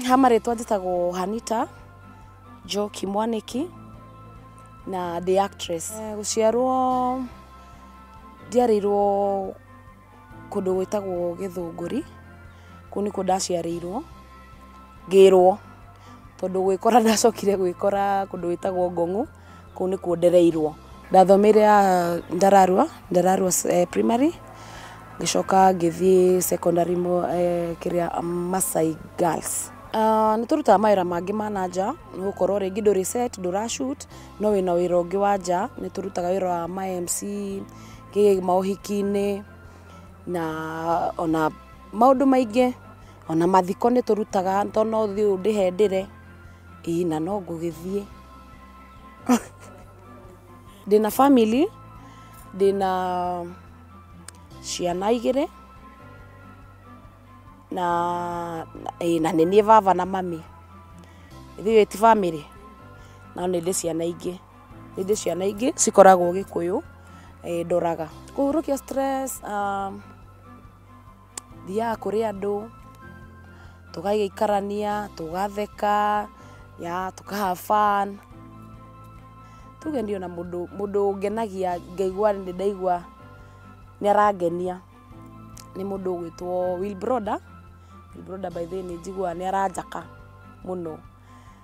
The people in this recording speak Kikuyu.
ha marĩtwa njĩtagwo hanita njoki mwanĩki na the actress Eh, gũciarwo ndiarĩirwo kũndũ gwĩtagwo gĩthũngũri kũu nĩkuo ndaciarĩirwo ngĩrwo tondũ gwĩkora ndacokire gwĩkora kũndũ gwĩtagwo ngong'u kũu nĩkuo ndereirwo ndathomeire ya ndararua ndararua eh, primary ngĩcoka ngĩthiĩ secondary mo eh, kĩrĩa masai girls Uh, nĩ tũrutaga mawĩra mangĩ ma na nja nĩ gũkorwo rĩngĩ ndũrĩ set ndũrashut no wĩna wĩra ũngĩ wa nja nĩ tũrutaga wĩra wa ma mc kĩ maũhiki-inĩ na ona maũndũ maingĩ ona mathiko nĩ tũrutaga tondũ no thiĩ ũndĩhe ndĩre ĩĩ na no ngũgĩthiĩ ndĩna family ndĩna ciana igĩrĩ na ĩĩ na nĩ niĩ baba na mami ithuĩ ti bamĩrĩ no nĩ ndĩ ciana ingĩ nĩ ndĩ ciana ingĩ cikoragwo gĩkũyũ ndoraga kũhurũkia stress thiaga kũrĩ andũ, tũgagĩikarania, tũgatheka, ya tũka have fun. Tuge niĩ ona mũndũ mũndũ ũngenagia ngaigua nĩ ndaigua nĩ arangenia nĩ mũndũ ũgwĩtwo Wilbroda. Wilbroda by the way nĩ njiguaga nĩ aranjaka mũno.